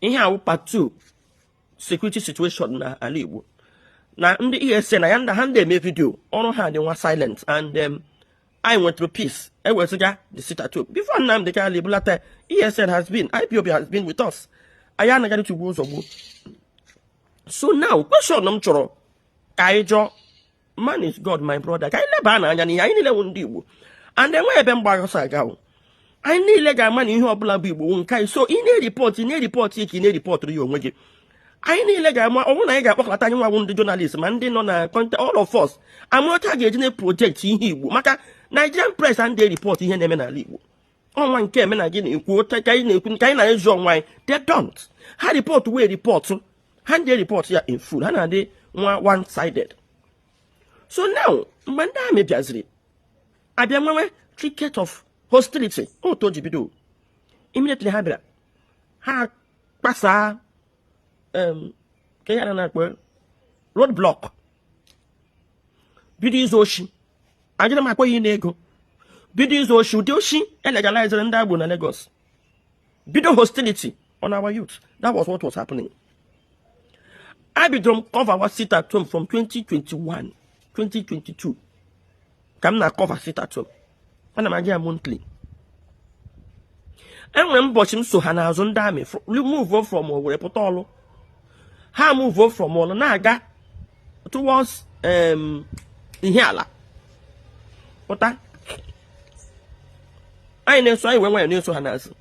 ihe a wụ part two security situation na ala Igbo na ndị ESN na ya ndị ha anadị eme video ọrụ ha dị nwa silent and um, anyị nwetụrụ peace ewezụga the sit at home before Nnamdi Kanu ebulata ESN has been IPOB has been with us anyị anaghị atụ egwu ụzọ gboo so now question m chọrọ ka anyị jụọ man is god my brother ka anyị lebanụ anya n'ihe anyị niile wụ ndị igbo and enwe ebe m gbagha ọsọ aga o anyị niile ga-ama na ihe ọbụla bụ igbo nke anyị so ị na-eripọtụ ị na-eripọtụ ka ị na-eripọtụrụ ya onwe gị anyị niile ga-ama ọ bụrụ na anyị ga-akpọkọta anyị nwa bụ ndị journalist ma ndị nọ na content all of us amara otu a ga-eji na-eproject ihe igbo maka Nigerian press anadị ereport ihe na-eme n'ala igbo o nwe nke eme na gị na-ekwu ote ka anyị na-ekwu nke anyị na-ezu ọnwa anyị they don't ha report wee report ha anadị ereport ya in full ha na-adị nwa one sided so now mgbe ndị army bịaziri abịa nwewe ticket of hostility otu o ji bido immediately ha bịara ha kpasaa um, kee ihe a na-akpọ road block bido izu oshi adịghị m akpọ ya ịna ego bido izu oshi ụdị oshi elegalizere ndị agboro na Lagos bido hostility on our youth that was what was happening abidoro m coverwa sit at home from 2021 2022 ka m na-acover sit at home ana m aga ya monthly enwere m ụbọchị m so ha n'azụ ndị army move from Owerri pụta Orlu ha move from Orlu na-aga towards um, Ihiala pụta anyị na-eso anyị were nwayọ na-eso ha n'azụ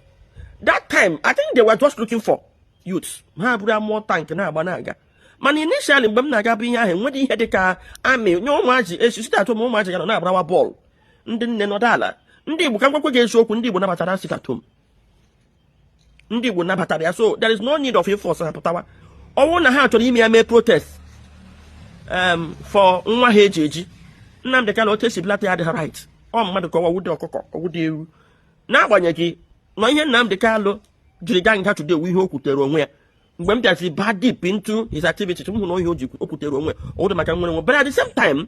that time I think they were just looking for youths ha buru armoured tank na-agba na-aga mana initially mgbe m na-aga bụ ihe ahụ enweghị ihe dị ka army nye ụmụaji echi sit at home ụmụaji ga nọ na-agbarawa bọọlụ ndị nne nọdụ ala ndị Igbo ka m gwakwa gị eziokwu ndị Igbo nabatara sit at home ndị Igbo nabatara ya so there is no need of force ha pụtawa ọ wụ na ha chọrọ ime ya mee protest um, for nwa ha eji eji Nnamdị Kanu otu esi bulata ya adịghị right ọ mmadụ ka ọ wụ ọ wụdị ọkụkọ ọ wụdị ewu n'agbanyeghị na ihe Nnamdị Kanu jiri gaa nga today wu ihe o kwutere onwe ya mgbe m bịazi ba deep into his activities m hụ na ọ ihe o kwutere onwe ya ọ wụdị maka nnwere onwe but at the same time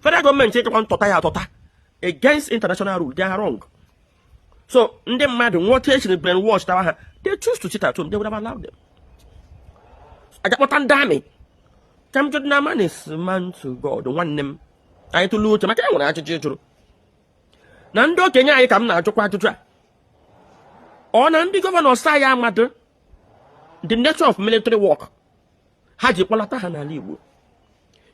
federal government ijekwa tọta ya atọta against international rule they are wrong so ndị mmadụ n'otu e siri brainwash tawa ha they choose to sit at home they would have allowed them aga kpọta ndị army ka m jụrụ na man is man to god nwanne m anyị tụlụ uche maka ya nwere ajụjụ jụrụ na ndị okenye anyị ka m na-ajụkwa ajụjụ a ọ na ndị governors anyị amadị the nature of military work ha ji kpọlata ha n'ala Igbo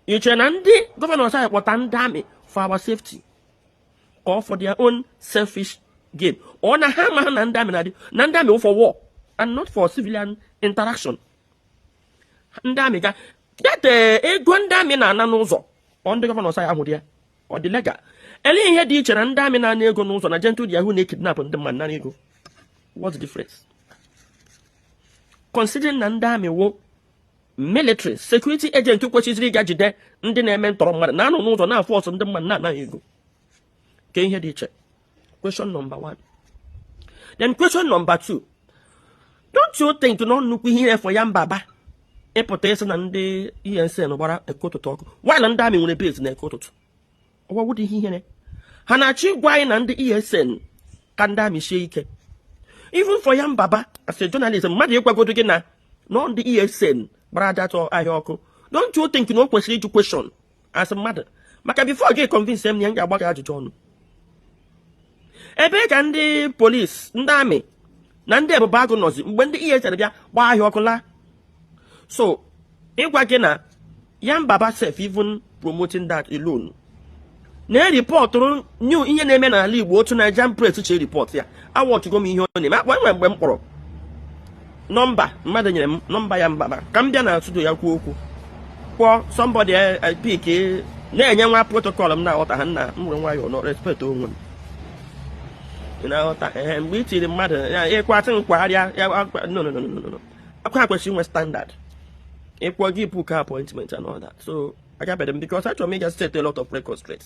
i chere na ndị gọvanọs anyị kpọta ndị amị for our safety or for their own selfish gain ọ na ha amaghị na ndị amị na-adị na ndị amị for war and not for civilian interaction ndị amị ga data eh, ego ndị amị na-ana n'ụzọ ọ ndị gọvanọs anyị ahụdị ya ọ dị legal ele ihe dị iche na ndị amị na-ana ego n'ụzọ na Gentle de Yahoo na-ekidnap ndị mmadụ nara ego what's the difference considering na ndị amị wụ military security agent kwesịziri ịga jide ndị na-eme ntọrọ mmadụ na-anọ n'ụzọ na-aforce ndị mmadụ na-ana ha ego ke ihe dị iche question number one then question number two don't you think na nnukwu ihere for ya mbaba ịpụta sị na ndị ESN gbara eke ụtụtụ ọkụ while ndị amị nwere base na eke ụtụtụ ọ awụdị ihe ihere ha na-achọ ịgwa anyị na ndị ESN ka ndị amị sie ike even for ya mbaba as a journalist mmadụ ịgwagodo gị na ọ ndị ESN gbara ahịa ọkụ don't you think na o kwesịrị ịjụ kweshọn as mmadụ maka before ị ga-econvince m ya m ga-agba gị ajụjụ ọnụ ebe ka ndị polisi ndị amị na ndị ebube agụ nọzi mgbe ndị ESN bịa gbaa ahịa ọkụ laa so ịgwa gị na ya mbaba sef even promoting that alone na-eripọtụrụ unu ihe na-eme n'ala Igbo otu Nigerian press si eripọt ya awọchụgo m ihe ọ na-eme e nwe mgbe m kpọrọ nọmba mmadụ nyere m nọmba ya mbaba ka m bịa na studio ya kwuo okwu kpọọ sọmbọdị apik enyewa m protokọl m na-aghọta ha nna m nwere nwayọọ nọ respekt onwe m ị na-aghọta ee mgbe i tiri mmadụ ya ịkwatị nkwagharịa ya akwa ha kwesịrị inwe standard ị ka ga-ebook appointment and all that so agabere m because achọrọ m ịga set a lot of records straight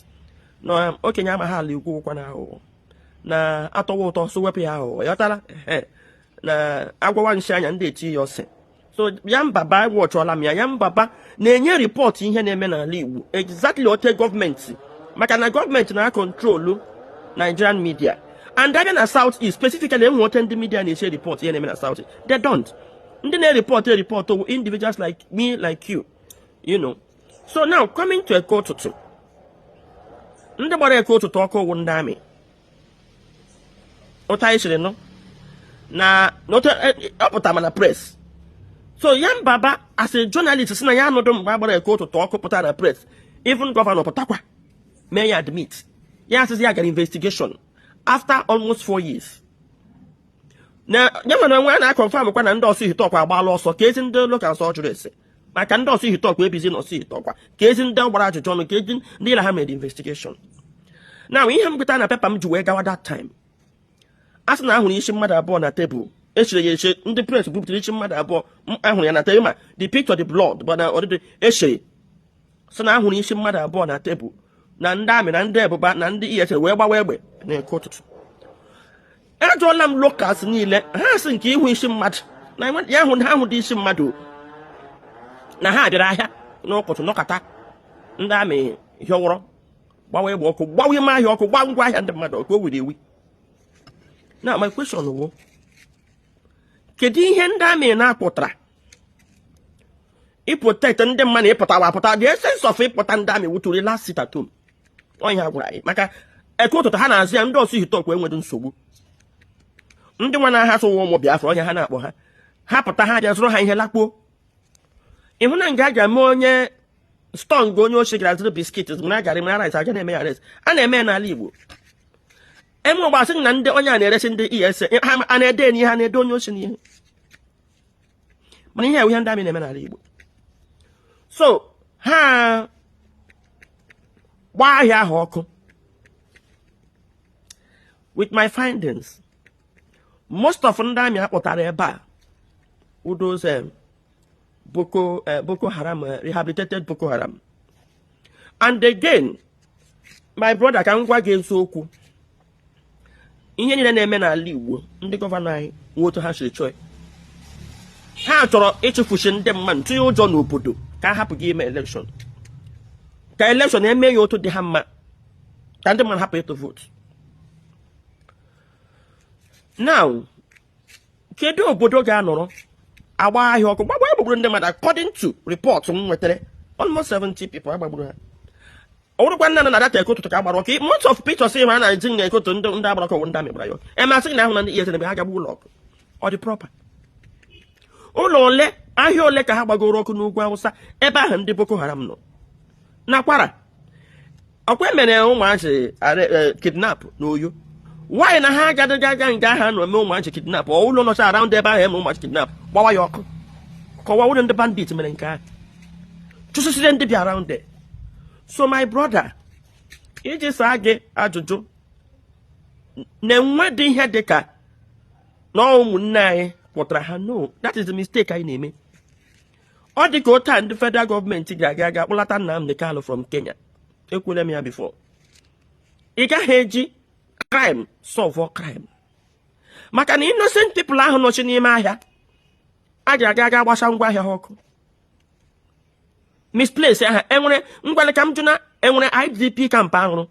na um, okenye amaghị ala ikwu ụkwa na aghụghọ na atọwa ụtọ so wepụ ya aghụghọ ya ọtara na agwawa nshi anya ndị eti ya ọsị so ya mbaba wọchụọla m ya ya mbaba na-enye ripọtụ ihe na-eme n'ala Igbo exactly otu gọọmenti maka na gọọmenti na-akọntrolu Nigerian media and a bịa na South East specifically e nwe otu ndị media na-esi ripọtụ ihe na-eme na South East they don't ndị na-erepọtụ erepọtụ wụ individuals like me like you you know so now coming to eke ụtụtụ ndị gbara eke ụtụtụ ọkụ wụ ndị amị otu anyị siri nụ na n'otu e, e, ọ pụtara ma na pres so ya mbaba as a journalist sị na ya anụdụ mgbe a gbara eke ụtụtụ ọkụ pụta na pres even gọvanọ pụtakwa mee ya admit ya asịzi ya gara investigation after almost four years na ya ma n'onwe ya na-akọnfamkwa na ndị Ọsụ Ihiteụkwa agbaala ọsọ keezi ndị locals ọ jụrụ ese maka ndị Orsu Ihiteukwa ebizi na Orsu Ihiteukwa kezi ndị gbara ajụjụ ọnụ kezi ndị na ha mere investigeshọn now ihe m gụta na pepa m ji wee gawa dat time a sị na a hụrụ isi mmadụ abụọ na tebụl e chere ya eche ndị pres bupụtara isi mmadụ abụọ a hụrụ ya na tebụl ma the picture the blood bụ na ọdịdị e chere sị na a hụrụ isi mmadụ abụọ na tebụl na ndị amị na ndị Ebubeagu na ndị ESN wee gbawa egbe n'Eke Ụtụtụ ajụọla m locals niile ha sị nke ịhụ isi mmadụ na ha ahụdị isi mmadụ na ha bịara ahịa n'ụtụtụ nọkata ndị amị hịọwụrọ gbawa egbe ọkụ gbawa ime ahịa ọkụ gbaa ngwa ahịa ndị mmadụ ọkụ o wiri ewi now my question wụ kedu ihe ndị amị na-apụtara ịprotect ndị mmadụ ịpụtawa apụta the essence of ịpụta ndị amị wuturi last sit at home onye ha gwara anyị maka Eke Ụtụtụ ha na-azụ ya ndị Orsu Ihiteukwa enweghị nsogbu ndị nwa na-aha sụwa ụmụ Biafra onye ha na-akpọ ha ha pụta ha bịa zụrụ ha ihe lakpuo ịhụ na nga a ga-eme onye stọng onye ochie gara zụrụ biskit mara garị mara rice a ja na-eme ya arrest a na-eme ya n'ala Igbo eme ọgbasị na ndị onye a na-eresi ndị ESN a na-ede n'ihe a na-ede onye ochie n'ihe mana ihe a wụ ihe ndị amị na-eme n'ala Igbo so ha gbaa ahịa ahụ ọkụ with my findings most of ndị amị a kpọtara ebe a wụ those eh, boko eh, boko haram eh, rehabilitated boko haram and again my brother ka m gwa gị eziokwu ihe niile na-eme n'ala Igbo ndị gọvanọ anyị nwe otu ha siri chọọ ha chọrọ ịchụfusi ndị mmadụ tinye ụjọ n'obodo ka a hapụ gị ime elekshọn ka elekshọn e mee ya otu dị ha mma ka ndị mmadụ hapụ ịtụ vootu now kedu obodo ga-anọrọ agba ahịa ọkụ gbagba egbugburu ndị mmadụ according to report m nwetara almost 70 people a gbagburu ha ọ wụrụkwa nna na dat ekoto ka a gbara ọkụ most of pictures ma a na-eji na ekoto ndị ndị a gbara ọkụ ndị amị gbara ya emasị na ahụ na ndị ESN ebe ahụ gagbu ụlọ ọkụ ọ dị proper ụlọ ole ahịa ole ka ha gbagoro ọkụ n'Ugwu Awụsa ebe ahụ ndị boko haram nọ na Kwara ọkwa e mere ụmụazị eh, kidnap n'Oyo why na ha agadịghị aga nga ha nọ mee ụmụazị kidnap ọ ụlọ nọcha around ebe ahụ e mere ụmụazị kidnap gbawa ya ọkụ ka ọ wụ ụlọ ndị bandit mere nke ahụ chụsịsịrị ndị bi around there so my brother iji saa gị ajụjụ na enwedị ihe dị ka na ụmụnne anyị kpọtara ha no that is the mistake anyị na-eme ọ dị ka otu a ndị federal government ga-aga aga kpọlata Nnamdi Kanu from Kenya ekwule m ya before ị gaghị eji crime solve crime maka na innocent people ahụ nọchi n'ime ahịa a ga-aga aga gbasa ngwa ahịa ha ọkụ displace ha e nwere ngwa le ka m jụ na e nwere IDP camp a rụrụ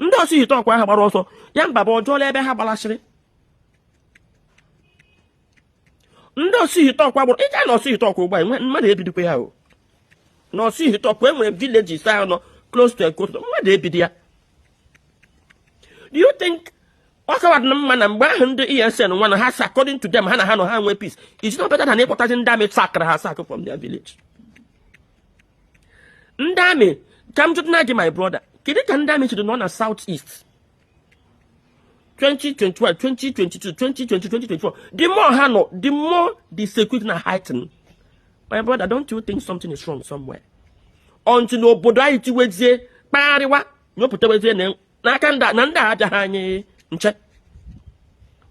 ndị Orsu Ihiteukwa ahụ gbara ọsọ ya mba bụ ọ jụọla ebe ha gbalasịrị ndị Orsu Ihiteukwa ọ bụrụ ị gaa na Orsu Ihiteukwa ugbu a mmadụ ebidikwa ya o na Orsu Ihiteukwa e nwere villages ahụ nọ close to Ekoto mmadụ ebidi ya do you think ọ kawadị na mma na mgbe ahụ ndị ESN nwa na ha si according to them ha na ha nọ ha nwee peace is not better than ịkpọtazi ndị army sack-ara ha sack from their village ndị army ka m jụtụ na gị my brother kedu ka ndị army shiri nọ na South East 2021 2022 2020 2024 the more ha nọ the more the security na heighten my brother don't you think something is wrong somewhere until obodo anyị tiwezie kpagharịwa nyopụtawezie n'aka ndị na ndị aja ha anyị nche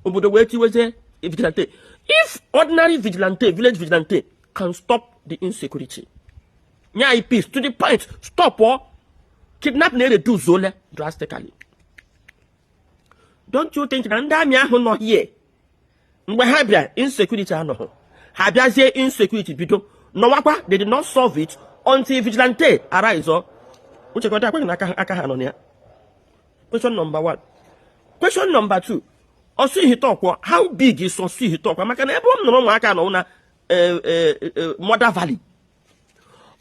obodo wee tiwezie vigilante if ordinary vigilante village vigilante can stop the insecurity nye anyị peace to the point stop ọ kidnapping ereduce-ole drastically don't you think na ndị army ahụ nọ here mgbe ha bịa insecurity anọghị ha bịazie insecurity bido nọwakwa they did not solve it until vigilante arise ọ i chekọtakwaghị na aka ha nọ na ya question number one question number two Orsu Ihiteukwa how big is Orsu Ihiteukwa maka na ebe m nụrụ ụmụaka nọ na eh, eh, eh, Mother Valley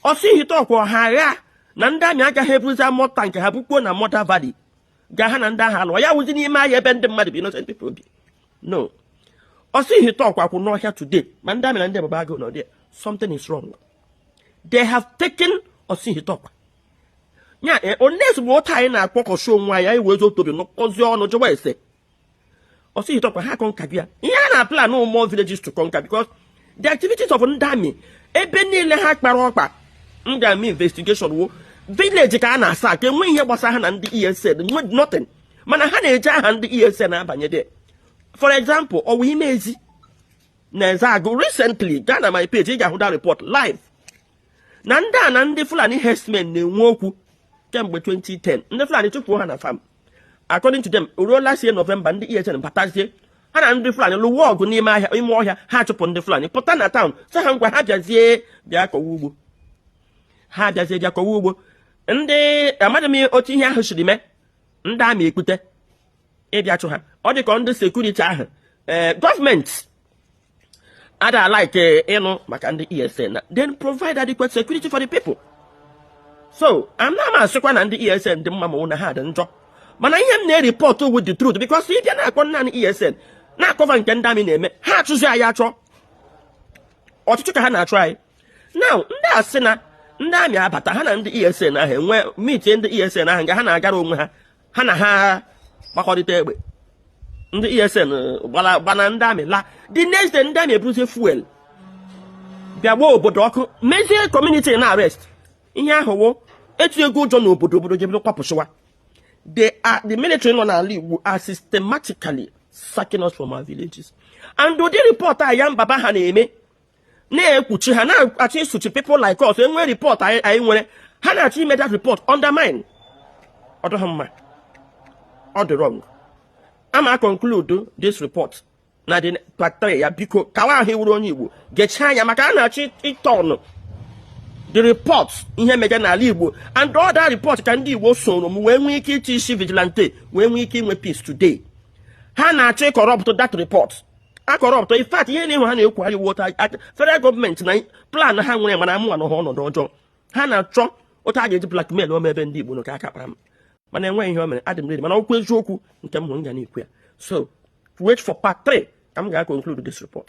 Orsu Ihiteukwa ọ ha aghaa na ndị army agaghị ebuzi armoured tank ha bukpuo na Mother Valley ga ha na ndị ahụ alụọ ya wụzi n'ime ahịa ebe ndị mmadụ bi innocent people bi no Orsu Ihiteukwa kwụ n'ọhịa today ma ndị army na ndị Ebube Agụ nọ there something is wrong they have taken Orsu Ihiteukwa ya unless otu a anyị na-akpọkọchi onwe anyị anyị wezituo obi nọkọzie ọnụ jụwa ese Orsu Ihiteukwa ha conquer-bi ya ihe a na plan more villages to conquer because the activities of ndị army ebe niile ha kpara ọkpa ndị army investigation wụ village ka a na-asack enweghị ihe gbasara ha na ndị ESN nothing mana ha na-eji aha ndị ESN abanye there for example Ọwa Imezi na Ezeagụ recently gaa na my page ị ga-ahụ the report live na ndị a na ndị Fulani herdsmen na-enwe okwu kemgbe 2010 ndị Fulani chụpụ ha na farm according to them ruo last year November ndị ESN batazie ha na ndị Fulani lụwa ọgụ n'ime ahịa ime ọhịa ha chụpụ ndị Fulani pụta na town sị ha ngwa ha bịazie bịa kọwa ugbo ha bịazie bịa kọwa ugbo ndị amadị m otu ihe ahụ siri mee ndị army ekpute ịbịa chụ ha ọ dị ka ndị security ahụ ee eh, government ọ dị like eh, ịnụ maka ndị ESN na then provide adequate security for the people so ana m asịkwa na ndị ESN dị mma ma na ha dị njọ mana ihe m na-erepọt wụ the truth because ị bịa na-akpọ naanị ESN na-akọva nke ndị amị na-eme ha achụzi anyị achụ ọchụchụ ka ha na-achụ anyị now ndị a sị na ndị amị abata ha na ndị ESN ahụ wee mitie ndị ESN ahụ nga ha na-agara onwe ha ha na ha gbakọrịta egbe ndị esn gbana ndị amị laa the next day ndị amị eburuzie fuel bịa gbaa obodo ọkụ mezie kọmuniti na arest ihe ahụ wụ etinyego ụjọ n'obodo obodo jebido kwapụsịwa the uh, the military nọ n'ala Igbo are systematically sacking us from our villages and ụdị report a ya mbaba ha na-eme na-ekpuchi ha na-achọ ịsụchi people like us e nwee report anyị nwere ha na-achọ ime that report undermine ọ dịghị mma ọ dị wrong ama conclude this report na the part 3 ya biko kawa ahụ ị wụrụ onye Igbo gechaa anya maka a na-achọ ịtọnụ the report ihe mega n'ala igbo and ọ that report ka ndị igbo soro m wee nwee ike iti isi vigilante wee nwee ike inwe peace today ha na-achọ ịcorrupt that report acorrupt in fact ihe na-enwe ha na-ekwugharị wota federal gọọmenti na plan ha nwere mana mụwa nọ ha ọnọdụ ọjọọ ha na-achọ otu a ga-eji blackmailụọ m ebe ndị Igbo nọ ka aka kpara m mana enweghị ihe o mere adị m redi mana okwu eziokwu nke m hụrụ m ga na-ekwu ya so wait for part 3 ka m ga-conclude this report